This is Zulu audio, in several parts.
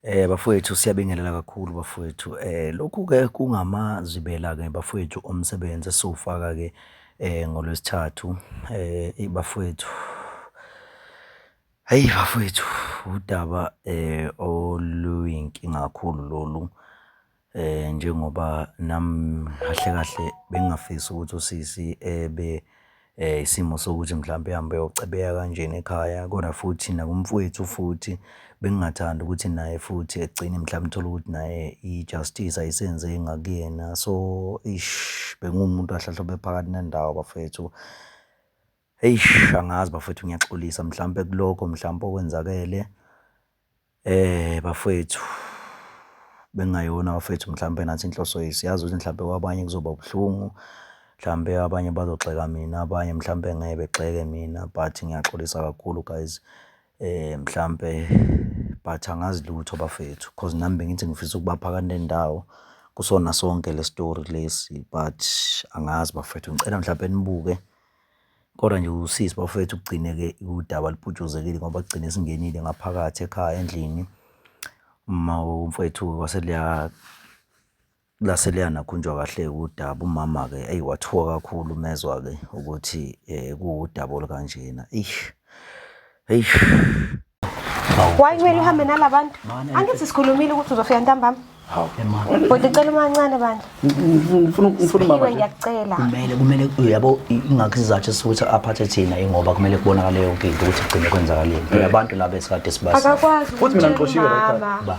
Eh bafowethu siyabingelela kakhulu bafowethu. Eh lokhu ke kungamazibela ke bafowethu omsebenzi esofaka ke eh ngolwesithathu eh bafowethu. Hey bafowethu udaba eh oluyinkinga kakhulu lolu. Eh njengoba nami kahle kahle bengingafisi ukuthi usisi ebe eh isimo sokuthi mhlawumbe ehambe eyocebeka kanjena ekhaya kodwa futhi nakumfwethu futhi bengingathanda ukuthi naye futhi egcine mhlawumbe uthole ukuthi naye i-justice ayisenze ngakuyena. So eish bengiwumuntu kahle kahle obephakathi nendawo bafwethu. Eish angazi bafethu ngiyaxolisa mhlampe kuloko mhlampe okwenzakele eh bafethu bengayona bafethu mhlampe nathi inhloso yethu siyazi ukuthi mhlampe kwabanye kuzoba ubuhlungu mhlampe abanye bazogxeka mina abanye mhlampe ngeke begxeke mina but ngiyaxolisa kakhulu guys eh mhlampe but angazi lutho bafethu cause nami bengithi ngifisa ukubaphaka nendawo kusona sonke le story lesi but angazi bafethu ngicela mhlampe nibuke Kodwa nje usisi bafowethu kugcine-ke udaba luputshuzekile ngoba kugcine singenile ngaphakathi ekhaya endlini. Uma umfowethu wase lase luyanakhunjwa kahle-ke udaba. Umama-ke eyi wathuka kakhulu uma ezwa-ke ukuthi kuwudaba olukanjena eish. eish Why kumele uhambe nalabantu? Angithi sikhulumile ukuthi uzofika ntambama. Hawu. Kodwa icela umancane bantu. Ngifuna ngifuna Iwe baba. ngiyacela. kumele kumele uyabo ingakho isizathu sokuthi aphathe thina ingoba kumele kubonakale yonke into ukuthi igcine kwenzakaleni phela abantu laba esikade sibazi Akakwazi Futhi mina ukuthi ngixoshiwe la ekhaya. umama. ba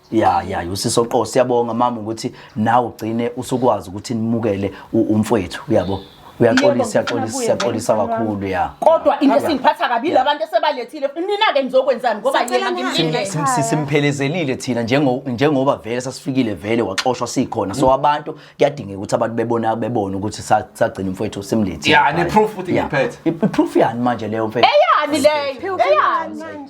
ya ya usiso qo siyabonga mama ukuthi nawe ugcine usukwazi ukuthi nimukele u- umfwethu uyabo uyaxolisa siyaxolisa siyaxolisa kakhulu ya kodwa into esingiphatha kabi Yeah. labantu esebalethile nina-ke nizokwenzani ngoba Sicela yena nihambe. ngimlindele Sim- si- simphelezelile thina njengo- njengoba vele sasifikile vele waxoshwa sikhona so abantu kuyadingeka ukuthi abantu bebona bebone ukuthi sa- sagcina umfwethu simlethile Ya, ne-proof futhi Ya. ngiphethe. I- i-proof yani manje leyo mfethu eyani leyo eyani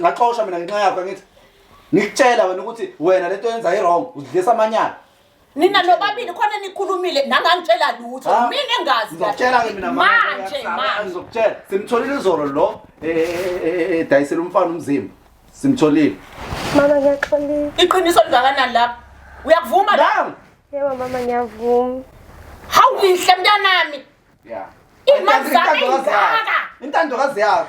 ngixoshwa mina ngenxa yakho angithi ngikutshela wena ukuthi wena lento yenza i-wrong udlisa amanyala nina nobabili khona nikhulumile nangangitshela lutho Ha? mina engazi Ngizokutshela ke mina mama, manje ngiyakusaba, manje Ngizokutshela. Simtholile izolo lo eh, eh, eh, eh, eh, dayisela umfana umzimba. Simtholile. Mama ngiyaxolisa. iqiniso lingakanani lapho uyakuvuma la Dang! Yebo mama ngiyavuma. hawu yinhle mntanami Yeah. Imali zami ingaka. Intando kazi yakho.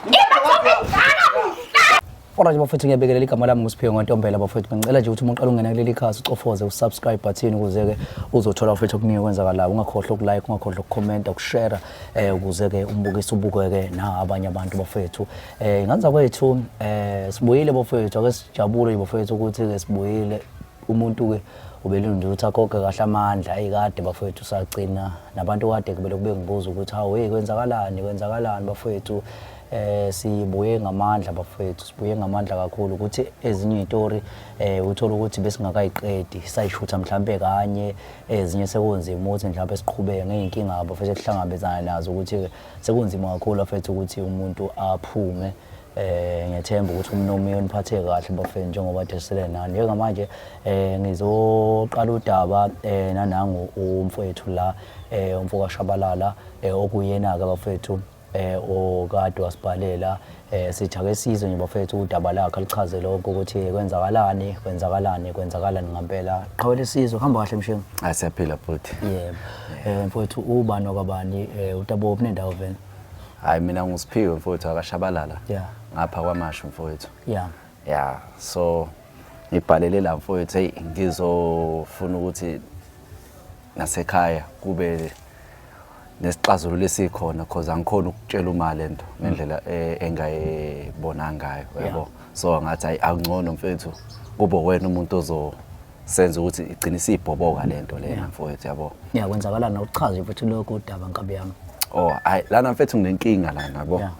Imali zami ingaka. Ora nje bafethu ngiyabekelela igama lami nguSiphiwe Ngontombela bafethu ngicela nje ukuthi uma uqala ungena kuleli khasi ucofoze usubscribe button ukuze ke uzothola bafethu okuningi okwenzakalayo ungakhohlwa ukulike ungakhohlwa ukucomment ukushare eh ukuze ke umbukise ubukeke na abanye abantu bafethu eh nganza kwethu eh sibuyile bafethu ake sijabule bafethu ukuthi ke sibuyile umuntu ke ubelinde ukuthi akhokhe kahle amandla ayi kade bafowethu sagcina nabantu kade kubele kube ngibuza ukuthi hawu hey kwenzakalani kwenzakalani bafowethu eh sibuye ngamandla bafowethu sibuye ngamandla kakhulu ukuthi ezinye izitori eh uthola ukuthi besingakayiqedi sayishutha mhlambe kanye ezinye sekunzima ukuthi mhlambe siqhubeke ngeenkinga abafethu kuhlangabezana nazo ukuthi sekunzima kakhulu afethu ukuthi umuntu aphume eh ngethemba ukuthi umnomi uyoniphathe kahle bafeni njengoba desele nani njengamanje eh ngizoqala udaba eh nanangu umfowethu la eh umfoka Shabalala eh okuyena ke bafethu eh okade wasibhalela eh sithi ake sizwe nje bafethu udaba lakhe lichaze lokho ukuthi kwenzakalani kwenzakalani kwenzakalani ngempela qhawela isizwe hamba kahle mshengu asiyaphila ah, futhi yebo eh mfowethu ubani okabani eh utabo obunendawo vele Hayi mina nguSiphiwe mfowethu akashabalala. Yeah. Ngapha kwamashu mfowethu. Yeah. Yeah. So ngibhalele la mfowethu hey ngizofuna ukuthi nasekhaya kube nesixazululo esikhona because angikhona ukutshela uma lento ngendlela eh, engayibona ngayo yabo so ngathi ayi akungcono mfethu kube wena umuntu ozo senze ukuthi igcine isibhoboka lento lena mfowethu yabo ya kwenzakala na uchaze mfethu lokho udaba nkabi yami oh hayi lana mfethu nginenkinga lana yabo Yeah.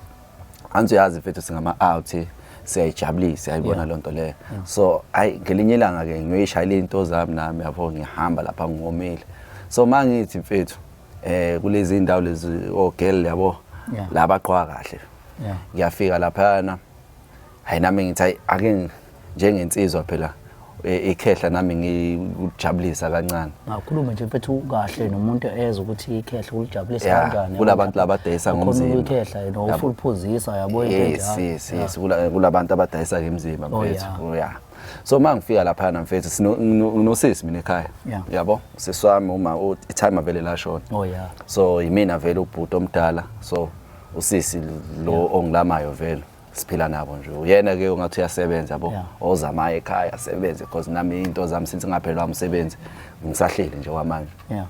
anzi uyazi mfethu singama out siyayijabulisa siyayibona Yeah. lonto leyo so hayi ngelinye ilanga ke ngiyoyishayela into zami nami yabo ngihamba lapha ngomile so mangithi mfethu eh kulezi indawo lezi o girl yabo Yeah. laba qhwa kahle Yeah. ngiyafika laphana hayi nami ngithi hayi ake ngi- njengensizwa phela e- ikhehla nami ngikujabulisa kancane Ngakhulume nje mfethu kahle nomuntu ezwe ukuthi ikhehla ulijabulisa Yeah, kanjani. kulabantu labadayisa Ukhona ngomzimba. ukuyikhehla yena Yabo. ufuna uphuzisa yabo into yes enjalo. yes Yeah. yes Kula- kulabantu abadayisa ngemzimba Oh, mfethu yeah. Oh, yeah so uma ngifika laphana mfethu sino- ngino- nginosisi mina ekhaya Yeah. yabo sisi wami uma u- itime avele lashona Oh yeah. so yimina vele ubhuti omdala so usisi lo ongilamayo vele siphila nabo nje uyena ke ungathi uyasebenza yabo Yeah. ozamayo ekhaya asebenze because nami into zami since ngaphelwa umsebenzi ngisahleli nje kwamanje yeah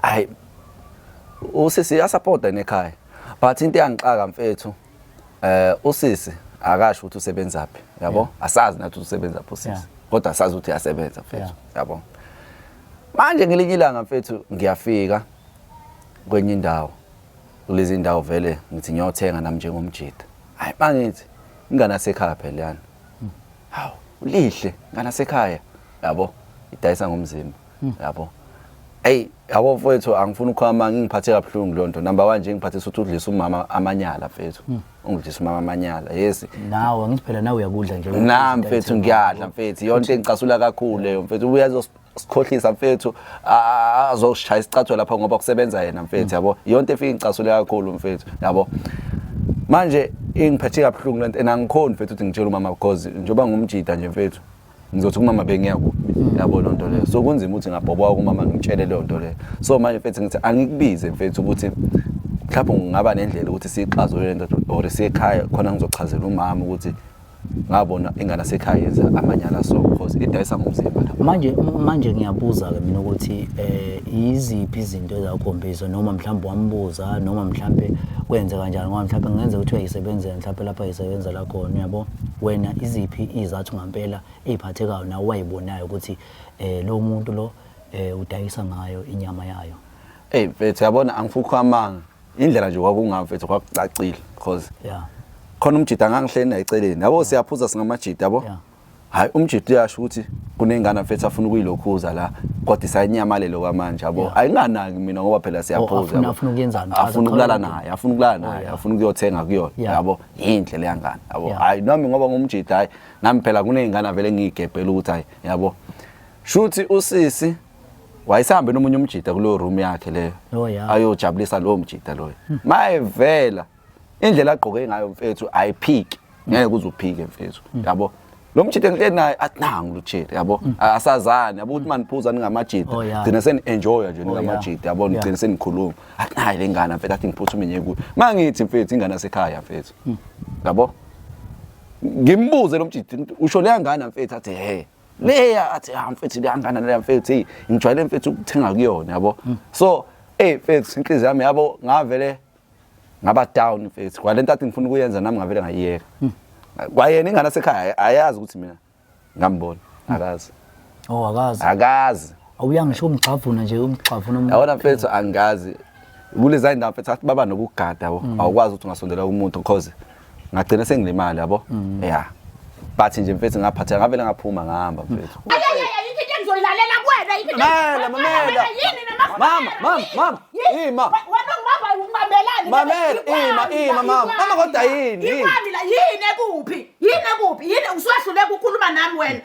hayi usisi uyasupporta nekhaya but into eyangixaka mfethu eh usisi akasho ukuthi usebenzaphi yabo asazi nathi ukuthi usebenzaphi usisi Yeah. kodwa asazi ukuthi uyasebenza mfethu Yeah. yabo manje ngelinye ilanga mfethu ngiyafika kwenye indawo kulezi ndawo vele ngithi ngiyothenga nami njengomjita hayi bangithi ingane asekhaya phela yani hawu lihle ingane asekhaya yabo idayisa ngomzimba hmm. yabo hey yabo mfowethu angifuni ukhama ngingiphathe kabuhlungu lo nto number 1 nje ngiphathisa ukuthi udlisa umama amanyala mfethu hmm. ungidlisa umama amanyala yes nawe ngithi phela nawe uyakudla nje na mfethu ngiyadla mfethu yonke engicasula kakhulu leyo mfethu uyazo sikhohlisa mfethu azoshaya isicatho lapha ngoba kusebenza yena mfethu yabo yonke efika icasule kakhulu mfethu yabo manje ingiphethe kabuhlungu lento and angikhoni mfethu ukuthi ngitshele umama because njengoba ngumjida nje mfethu ngizothi kumama bengiya kuphi mm. yabo loo nto leyo so kunzima ukuthi ngabhobwa kumama ngitshele leyo nto leyo so manje mfethu ngithi angikubize mfethu ukuthi mhlawumbe ngingaba nendlela ukuthi siyixazulule lento or siyekhaya khona ngizochazela umama ukuthi ngabona ingane asekhaya yenza amanyala so because idayisa ngomzimba manje manje ngiyabuza ke mina ukuthi eh iziphi izinto ezakhombisa noma mhlawumbe wambuza noma mhlawumbe kwenze kanjani ngoba mhlawumbe kungenza ukuthi uyayisebenzela mhlawumbe lapha yisebenza la khona uyabo wena iziphi izathu ngampela eziphathekayo nawe wayibonayo ukuthi eh lo muntu lo eh udayisa ngayo inyama yayo hey mfethu yabona angifukho amanga indlela nje kwakungayo mfethu kwakucacile because yeah khona umjida ngangihleli naye eceleni yabo siyaphuza singamajida yabo Yeah. hayi umjida uyasho ukuthi kunengane mfethu afuna ukuyilokhuza la kodwa isayenyamalelo kwamanje yabo ayinganaki mina ngoba phela siyaphuza afuna- yabo. afuna ukuyenzani? Chaza, afuna ukulala chaza. naye afuna ukulala naye afuna ukuyothenga kuyona Yeah. yabo yinhle leya ngane yabo Yeah. hayi nami ngoba ngumjida hayi nami phela kuney'ngane vele ngiyigebhela ukuthi hayi yabo shuthi usisi wayesehambe nomunye umjita kuleyo room yakhe leyo Oh, yeah. ayojabulisa lowo mjita loyo mayevela indlela agqoke ngayo mfethu ayiphiki ngeke kuze uphike mfethu yabo lo mjita engihleli naye athi nangu lutshile yabo A- asazani yabo ukuthi maniphuza ningamajita Oh, yeah. gcina seni-enjoya nje yeah. ningamajita yabo Yeah. nigcine senikhuluma athi nayi le ngane mfethu athi ngiphutha umenye kuyo ma ngithi mfethu ingane asekhaya mfethu yabo ngimbuze lo mjita usho leya ngane mfethu athi he leya athi ha ah, mfethu kuyangana leya mfethu hey ngijwayele mfethu ukuthenga kuyona yabo mm. so hey mfethu inhliziyo yami yabo ngavele ngaba down mfethu kwalento athi ngifuna ukuyenza nami ngavele ngayiyeka mm. kwayena ingane asekhaya ayazi ukuthi mina ngambona mm. akazi oh akazi akazi awuya ngisho umgxavuna nje umgxavuna umuntu yabona mfethu angazi kuleza indawo mfethu athi baba nokugada awukwazi ukuthi ungasondela umuntu because ngagcina sengilimali yabo mm. yeah but nje mfethu ngaphatheka ngavele ngaphuma ngihamba mfethu ngizoyilalela kuwena yini mamela mama mama mama ima wena ngibamba ngibambelani mamela ima ima mama mama kodwa yini yini yini ekuphi yini ekuphi yini usuhlule ukukhuluma nami wena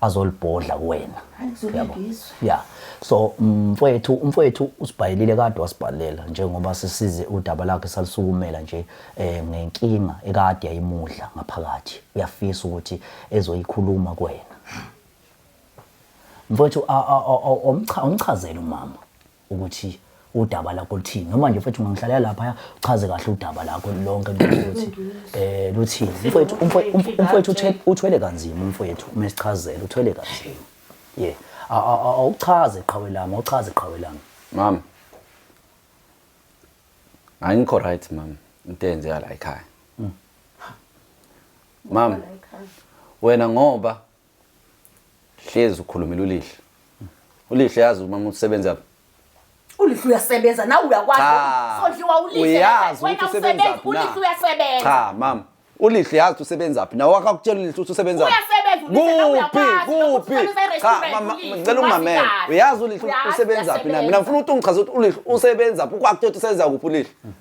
azolibhodla kuwena yabo yeah so mfowethu umfowethu usibhayilile kade wasibhalela njengoba sisize udaba lakhe salisukumela nje eh ngenkinga ekade yayimudla ngaphakathi uyafisa ukuthi ezoyikhuluma kuwena mfowethu awumchazele umama ukuthi udaba lakho luthini noma nje mfethu ungangihlalela laphaya uchaze kahle udaba lakho lonke ukuthi eh luthini mfethu umfo- umfo- umfowethu uthe- uthwele kanzima umfowethu uma esichazela uthwele kanzima ye A- a- a- awuchaze qhawe lami awuchaze qhawe lami mama angikho right mama into eyenzeka la ekhaya mama wena ngoba Hlezi ukhulumile ulihle. Ulihle yazi umama usebenza ulihle uyasebenza nawe uyakwazi sondliwa ulihle uyazi ukuthi usebenza phi ulihle uyasebenza cha mama ulihle yazi usebenza phi nawe akakutshela ulihle ukuthi usebenza kuphi kuphi cha mama ngicela umamele uyazi ulihle usebenza phi na mina ngifuna ukuthi ungichaze ukuthi ulihle usebenza phi ukwakutshela ukuthi usebenza kuphi ulihle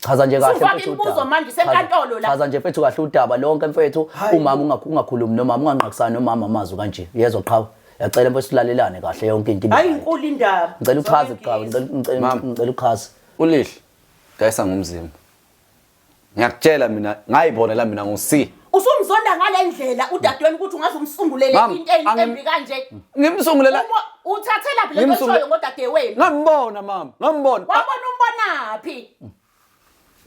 Chaza nje kahle Sufaka mfethu imibuzo udaba. manje, usenkantolo Chaza- la. Chaza nje mfethu kahle udaba lonke mfethu. Hayi. Umama unga- ungakhulumi nomama unganqakisani nomama amazwi kanje. Yezwa qhawe. Yacela mfethu silalelane kahle yonke into. ibe hayi right. inkulu indaba Ngicela uchaze qhawe, ngicela ngicela- Mama. ngicela uchaze. ulihle dayisa ngomzimba ngiyakutshela mina ngayibonela mina ngo-c Usumzonda ngale ndlela udadewenu ukuthi ungaze umsungulele Mama, into eyi- angim- embi kanje. Ngimsungulela Uma- Uthathelaphi le nto Ngimsungu- oyishoyo ngodadewenu? ngambona mama, ngambona. Wabona umbonaphi?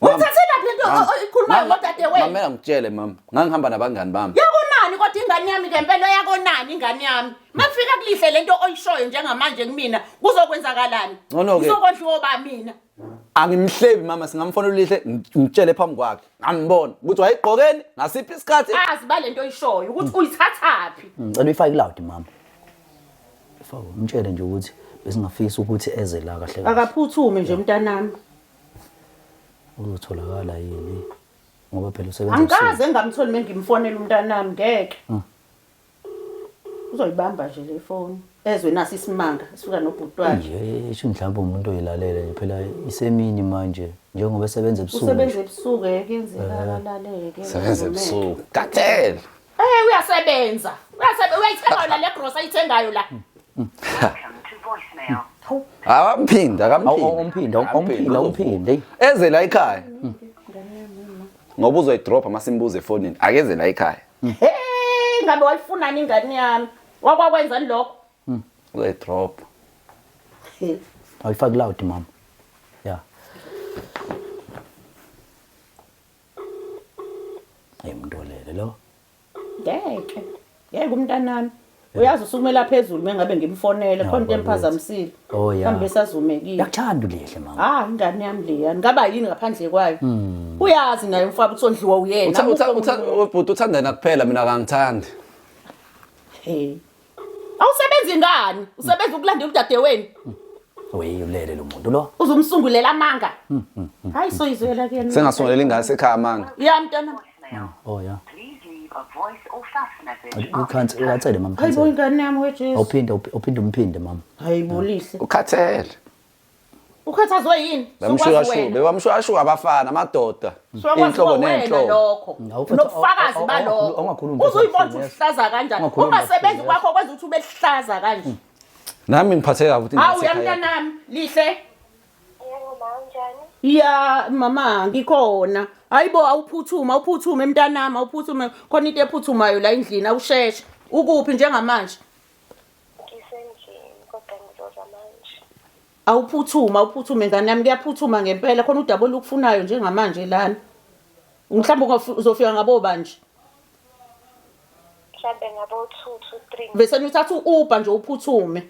Mama, Uthathelaphi le nto mama, o- oyikhulumayo mama, ngodadewenu? Mamela ngitshele mama, ngangihamba nabangani bami. Yakonani kodwa ingane yami ngempela yakonani ingane yami. Mafika kulihle le nto oyishoyo njengamanje kumina kuzokwenzakalani? Ngcono-ke. Ngizokondliwa ba mina. angimhlebi mama singamfonela ulihle ngitshele phambi kwakhe ngambona ukuthi wayegqokeni ngasiphi isikhathi azi balento oyishoyo ukuthi uyithathaphi ngicela uyifake iloud mama ifake umtshele nje ukuthi besingafisa ukuthi eze la kahle kahle akaphuthume nje mntanami uzotholakala yini ngoba phela usebenza angikaze engamtholi mengimfonela umntanami ngeke uzoyibamba nje le foni ezwe nasi isimanga sifika nobhuti wakhe Nje ishi mhlawumbe umuntu oyilalela nje phela isemini manje njengoba esebenza ebusuku. usebenza ebusuku eke enzeka akalaleke Sebenza ebusuku. Kathele. Eh uyasebenza. Uyasebenza uyayithenga yona le grocery ayithengayo la. Akamphindi, akamphindi. Umphinda, umphinda, umphinda. eyi. Eze la ekhaya. Ngoba uzoyidropha masimbuze efonini. Akeze la ekhaya. he ngabe wayifunani ingane yami wakwakwenzani lokho Hmm. We drop. He. Awuyifaki loud mama. Yeah. Hey mntolele lo. ngeke ngeke umntanami uyazi usukumela phezulu mengabe ngimfonele khona into emphazamisile Oh, yeah. mhlawumbe esazumekile yakuthanda ulihle mama ah ingane yami leya ngaba yini ngaphandle kwayo uyazi naye umfaba ukuthi ondliwa uyena Utha- utha- akukho utha- umuntu. ubhuti uthanda yena kuphela mina kangithandi Hey. awusebenzi ngani usebenza ukulandela udadeweni weyi ulele lo muntu lo uzumsungulela amanga hayi soyizwela kuyena sengasongelela ingane sekhaya amanga ya mntwana Mm. Oh yeah. Ukhansi ukhathele mama. Hayi bo ingane yami weJesu. Awuphinde uphinde umphinde mama. Hayi bo lihle. Ukhathele. Ukhathazwe yini? Bamshuyashuka, bebamshuyashuka abafana amadoda. Inhlobo nenhlobo. Nobufakazi balokho. Uzoyibona ukuthi uhlaza kanjani. Ungasebenzi kwakho kwenza ukuthi ube lihlaza kanje. Nami ngiphatheka ukuthi ngiphatheka. Hawu yamntanami lihle. ya mama ngikhona hayibo awuphuthume awuphuthume mntanami awuphuthume khona into ephuthumayo la endlini awusheshe ukuphi njengamanje ngisendlini kodwa ngizoza manje awuphuthume awuphuthume ngane yami kuyaphuthuma ngempela khona udaba olukufunayo njengamanje lana mhlawumbe uzofika ngabo banje mhlawumbe ngabo-two to three bese nithatha u-uber nje uphuthume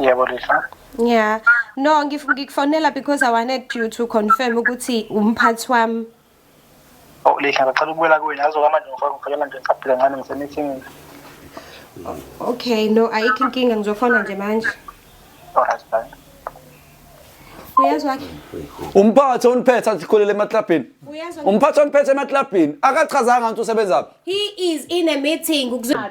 Yebo Lisa. Yeah. No, ngif- ngikufonela because I wanted you to confirm ukuthi umphathi wami. Oh Lisa ngicela ukubuyela kuwena azoka manje ngifuna ngifakela nje ngisabhile kancane ngisemithini. Okay, no, ayikho inkinga ngizofona nje manje. Alright bye. Uyezwa ke? umphathi oniphethe athi khulele emaklabhini Uyezwa ke? umphathi oniphethe emaklabhini akachazanga ngithi usebenzaphi He is in a meeting. Ukuzwa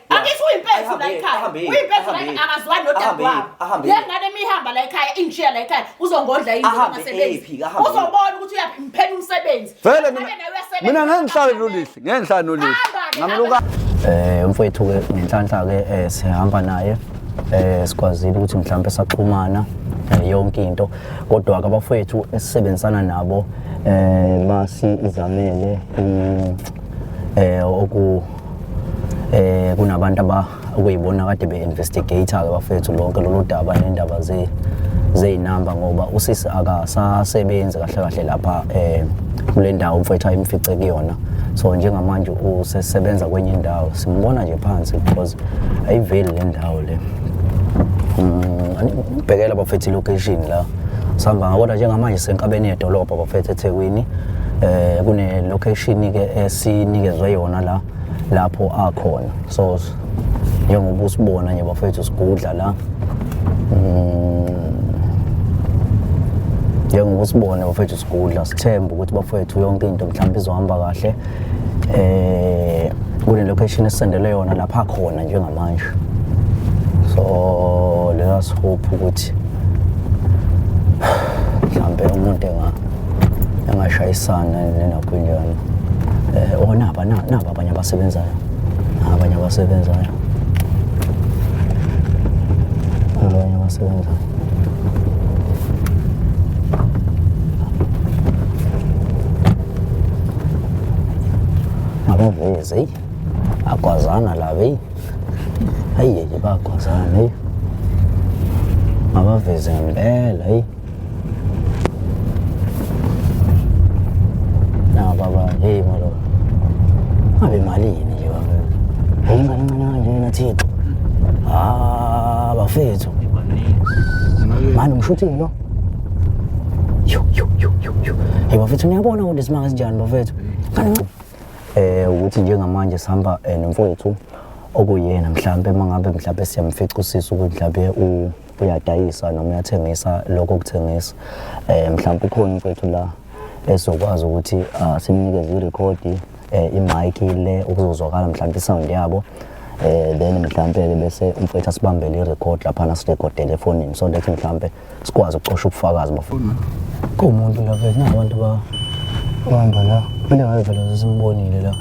Angithi uyimpethu la ekhaya. Uyimpethu la akazwani nodadewabo. Lengane imihamba la ekhaya ingishiya la ekhaya uzongodla yini ngasebenzi. Uzobona ukuthi uyaphimpela umsebenzi. Vele mina mina ngeke ngihlale nolisi, ngeke ngihlale nolisi. Ngamluka eh mfowethu ke ngenhlanhla ke eh, sihamba naye eh sikwazile ukuthi mhlawumbe saxhumana eh, yonke into kodwa ke abafowethu esisebenzisana nabo eh basi izamele mm, eh oku eh kunabantu aba okuyibona kade be-investigator ke bafethu lonke lolu daba nendaba ze zeyinamba ngoba usisi akasasebenzi kahle kahle lapha eh kule ndawo mfethu ayimfice kuyona so njengamanje usesebenza kwenye indawo simbona nje phansi because ayiveli le ndawo le mm, ngibhekela bafethu ilocation la sihamba ngakodwa njengamanje senkabeni yedolobha bafethu ethekwini eh kune location ke esinikezwe yona la lapho akhona so njengoba usibona nje bafethu sigudla la mm. njengoba usibone bafethu sigudla sithemba ukuthi bafethu yonke into mhlawumbe izohamba kahle eh kule location esendele yona lapha khona njengamanje so let us hope ukuthi mhlambe umuntu enga engashayisana nenakwinyana eh oh, onaba naba abanye abasebenzayo abanye abasebenzayo abanye abasebenzayo Akaveze, akwazana la veyi. Hayi yeke bakwazana veyi. Abaveze ngempela veyi. Na baba, hey malo. Abe malini nje baba. Hayi ngane ncane kanje wena Thixo. Ah, bafethu. Manje umshuthingi lo. Hey bafethu niyabona ukuthi isimanga sinjani bafethu. Eh ukuthi njengamanje sihamba eh, nomfowethu okuyena mhlambe mangabe mhlambe siyamfica usisi ukuthi mhlambe u uyadayisa noma uyathengisa lokho kuthengisa eh mhlawumbe ukhona mfethu la esokwazi ukuthi ah, simnikeze irekhodi eh, imike le ukuzozwakala mhlawumbe isound yabo eh then mhlawumbe-ke bese umfethu asibambele i-record laphana sirekodele efonini so that mhlawumbe sikwazi ukucosha ubufakazi bafuna kuwumuntu la vele nabantu ba uhamba la kumele ngabe vele zesimbonile la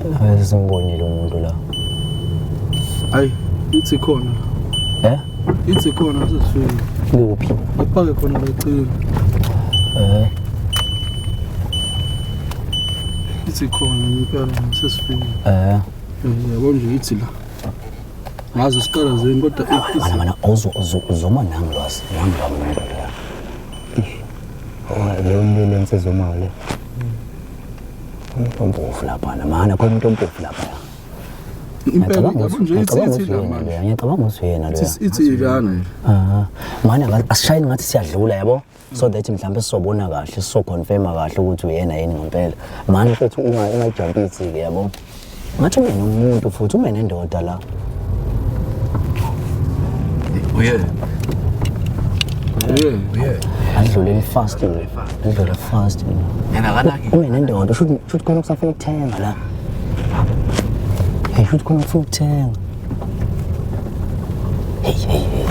ngabe sesimbonile umuntu la ayi ithi khona eh Ithi khona sesifike. Kuphi? Ngipake khona lecini. Eh. Ithi khona impela sesifike. Eh. Yabo nje ithi la. Ngazi siqala zeni kodwa ithi. Mana ozo ozo uzoma nami lwazi. Nami la muntu la. Oh, leyo mbele nsizomali. Umuntu ompofu lapha, namana khona umuntu ompofu lapha. impela yabo nje ithi ithi la manje ngiyacabanga ukuthi uyena lo ithi ikana nje aha manje asishayini ngathi siyadlula yabo so that mhlawumbe sisobona kahle sisoconfirma kahle ukuthi uyena yini ngempela manje futhi uma ingajump ithi ke yabo ngathi mina umuntu futhi uma nendoda la uye uye uye adlulele fast adlulele fast yena kanaki uma nendoda should should khona kusafuna ukuthenga la Hey, futhi khona ufuna ukuthenga. Hey, hey, hey.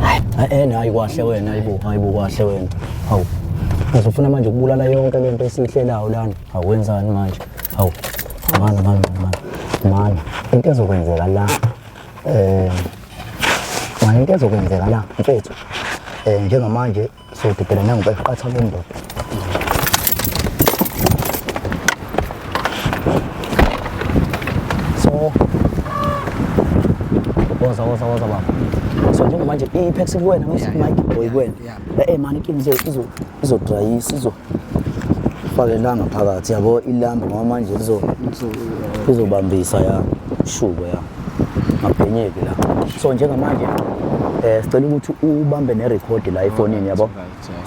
Hayi, hayi, ena, hayi kwahle wena, hayi bo, hayi bo kwahle wena. Hawu. Ngizofuna manje ukubulala yonke le nto esiyihlelayo lana. Hawu wenzani manje? Hawu. Mana, mana, mana. Mana, into ezokwenzeka la. Eh, mana into ezokwenzeka la, mfethu. Eh, njengamanje So didela nangu bayiqatha le ndoda. So woza woza woza baba. So njengoba nje i-Apex kuwena ngesikho Mike boy kuwena. Eh man ikinto izo izo dry izo fake ilanga phakathi yabo ilamba ngoba manje lizobambisa ya shubo ya ngabhenyeki la so njengamanje eh sicela ukuthi ubambe nerecord la efonini yabo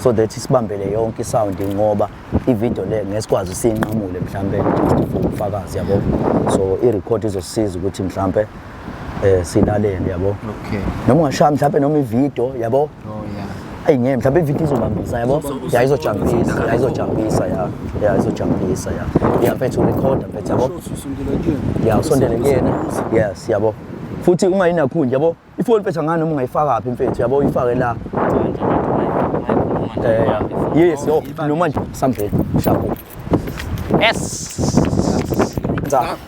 so that sibambele yonke isound ngoba ivideo le ngesikwazi usinqamule mhlambe ukufakazi yabo so irecord izosiza ukuthi mhlambe eh silalele yabo okay noma ungashaya mhlawumbe noma ivideo yabo oh yeah ayi ngeke mhlawumbe ivideo izobambisa yabo ya izojambisa ya izojambisa ya ya izojambisa ya ya mfethu record mfethu yabo ya usondele kuyena yes yabo futhi ungayinakhu nje yabo ifoni mfethu angani noma ungayifaka phi mfethu yabo uyifake la eh yes yo noma nje sambe shapo yes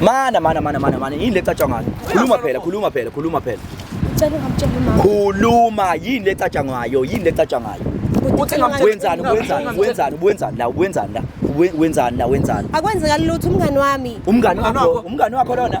Mana mana mana mana mana yini lecatshwa ngayo? Khuluma phela, khuluma phela, khuluma phela. Cela ungamtshela umama. Khuluma yini lecatshwa ngayo? Yini lecatshwa ngayo? Uthi ngamtshela Wenzani, wenzani, wenzani, wenzani la, wenzani la, we- wenzani la, wenzani. Akwenzeka lutho umngani wami. Umngani wakho, umngani wakho lona.